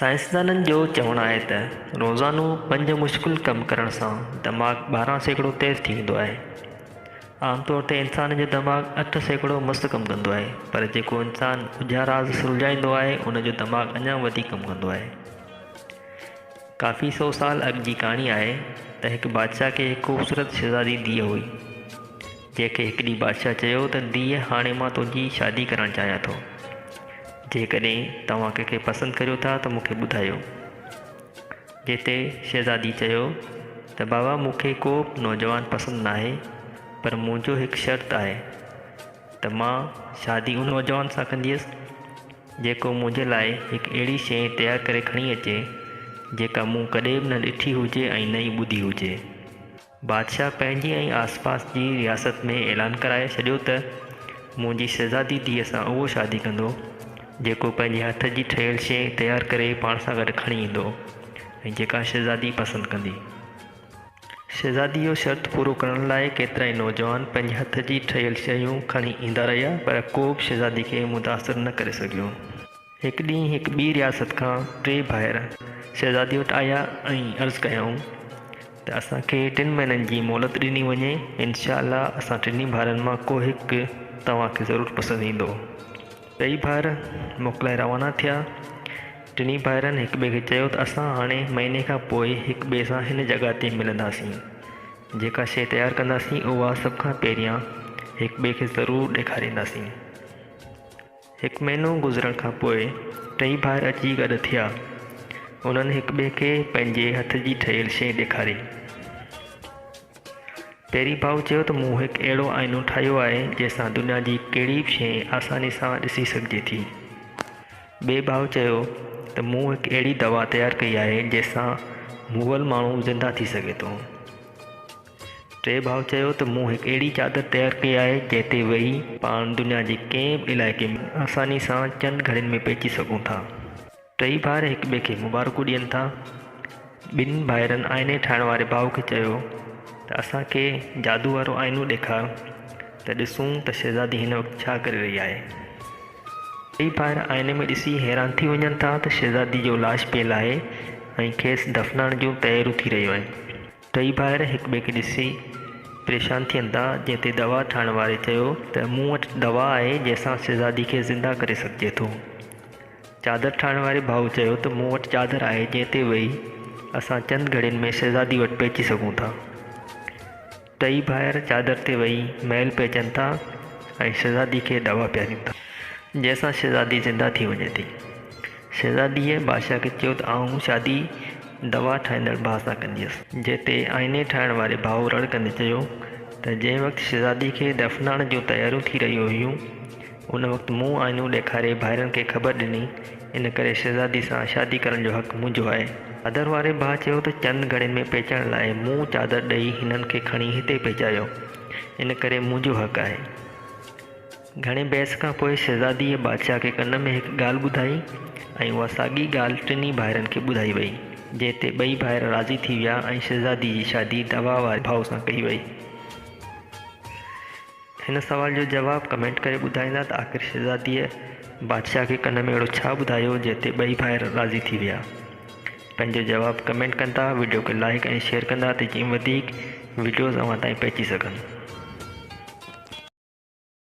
سائنسدانن جو چوڻ آهي ته روزانو پنج مشڪل ڪم ڪرڻ سان دماغ ٻارهن سيڪڙو تيز ٿي ويندو آهي. عام طور تي انسان جو دماغ اٺ سيڪڙو مست ڪم ڪندو آهي پر جيڪو انسان ڳجها راز سلجهائيندو آهي ان جو دماغ اڃا وڌيڪ ڪم ڪندو آهي. ڪافي سو سال اڳ جي ڪهاڻي آهي ته هڪ بادشاهه کي هڪ خوبصورت شهزادي ڌيء هئي. جنهن کي هڪ ڏينهن بادشاهه چيو ته ڌيء هاڻي مان تنهنجي شادي ڪرڻ چاهيان ٿو. جيڪڏهن توهان ڪنهن کي پسند ڪريو ٿا ته مون کي ٻڌايو. جنهن تي شهزادي چيو ته بابا مون کي ڪو به نوجوان پسند ناهي پر منهنجو هڪ شرط آهي ته مان شادي ان نوجوان سان ڪنديس جيڪو منهنجي لاء هڪ اهڙي شيء تيار ڪري کڻي اچي جيڪا مون ڪڏهن به نه ڏٺي هجي ۽ نه ئي ٻڌي هجي. بادشاهه پنهنجي ۽ آسپاس جي رياست ۾ اعلان ڪرائي ڇڏيو ته منهنجي شهزادي ڌيء سان اهو شادي ڪندو، جيڪو پنهنجي هٿ جي ٺهيل شيء تيار ڪري پاڻ سان گڏ کڻي ايندو ۽ جيڪا شهزادي پسند ڪندي. شهزادي جو شرط پورو ڪرڻ لاء ڪيترائي نوجوان پنهنجي هٿ جي ٺهيل شيون کڻي ايندا رهيا، پر ڪو به شهزادي کي متاثر نه ڪري سگهيو. هڪ ڏينهن هڪ ٻي رياست کان ٽي ڀائر شهزادي وٽ آيا ۽ عرض ڪيائون ته اسان کي ٽن مهينن جي مهلت ڏني وڃي انشاء الله اسان ٽنهي ڀائرن مان ڪو هڪ توهان کي ضرور پسند ايندو ٽئي ڀائر موڪلائي روانا ٿيا ٽنهي ڀائرن هڪ ٻئي کي چيو ته اسان هاڻي مهيني کان پوء هڪ ٻئي سان هن جڳهه تي ملنداسين جيڪا شيء تيار ڪنداسين اها سڀ کان پهريان هڪ ٻئي کي ضرور ڏيکارينداسين هڪ مهينو گذرڻ کان پوء ٽئي ڀائر اچي گڏ ٿيا. انهن هڪٻئي کي پنهنجي هٿ جي ٺهيل شيء ڏيکاري. پيري ڀاء چيو ته مون هڪ اهڙو آئينو ٺاهيو آهي جنهن سان دنيا جي ڪهڙي به شيء آساني سان ڏسي سگهجي ٿي. ٻئي ڀاء چيو ته مون هڪ اهڙي دوا تيار ڪئي آهي جنهن سان مئل ماڻهو زنده ٿي سگهي ٿو. ٽئين ڀاء چيو ته مون هڪ اهڙي چادر تيار ڪئي آهي جنهن تي ويهي پاڻ دنيا جي ڪنهن به علائقي ۾ آساني سان چند گهڙين ۾ پهچي سگهون ٿا. ٽئي ڀائر هڪ ٻئي کي مبارڪون ڏين ٿا. ٻن ڀائرن آئيني ٺاهڻ واري ڀاء کي چيو ته اسان کي جادو وارو آئينو ڏيکار ته ڏسون ته شهزادي هن وقت ڇا ڪري رهي آهي. ٽئي ڀائر آئيني ۾ ڏسي حيران ٿي وڃن ٿا ته شهزادي جو لاش پيل آهي ۽ کيس دفنائڻ جون تياريون ٿي رهيون آهن. ٽئي ڀائر هڪ ٻئي کي ڏسي پريشان ٿين ٿا جنهن تي دوا ٺاهڻ واري چيو ته مون وٽ دوا آهي جنهن سان شهزادي کي زنده ڪري سگهجي ٿو. چادر ٺاهڻ واري ڀائو چيو ته مون وٽ چادر آهي جنهن تي ويهي اسان چند گهڙين ۾ شهزادي وٽ پهچي سگهون ٿا. ٽئي ڀائر چادر تي ويهي محل پهچن ٿا ۽ شهزادي کي دوا پيارين ٿا. جنهن سان شهزادي زنده ٿي وڃي ٿي. شهزاديء بادشاهه کي چيو ته آئون شادي دوا ٺاهيندڙ ڀاء سان ڪنديس. جنهن تي آئيني ٺاهڻ واري ڀاء رڙ ڪندي چيو ته جنهن وقت شهزاديء کي دفنائڻ جون تياريون ٿي رهيون هيون، ان وقت مون آئينو ڏيکاري ڀائرن کي خبر ڏني، ان ڪري شهزاديء سان شادي ڪرڻ جو حق منهنجو آهي. چادر واري ڀاء چيو ته چند گهڙين ۾ پهچڻ لاء مون چادر ڏئي هنن کي کڻي هتي پهچايو، ان ڪري منهنجو حق آهي. گهڻي بحث کان پوء شهزاديء بادشاهه کي ڪن ۾ هڪ ڳالهه ٻڌائي ۽ اها ساڳي ڳالهه ٽنهي ڀائرن کي ٻڌائي ويئي، جنهن تي ٻئي ڀائر راضي ٿي ويا ۽ شهزاديء جي شادي دوا واري ڀاء سان ڪئي ويئي. هن سوال جو جواب ڪمينٽ ڪري ٻڌائيندا ته آخر شهزاديء بادشاهه کي ڪن ۾ اهڙو ڇا ٻڌايو جنهن تي ٻئي ڀائر راضي ٿي ويا. پنهنجو جواب ڪمينٽ ڪندا وڊيو کي لائيڪ ۽ شيئر ڪندا ته جيئن وڌيڪ وڊيوز اوهان تائين پهچي سگهن.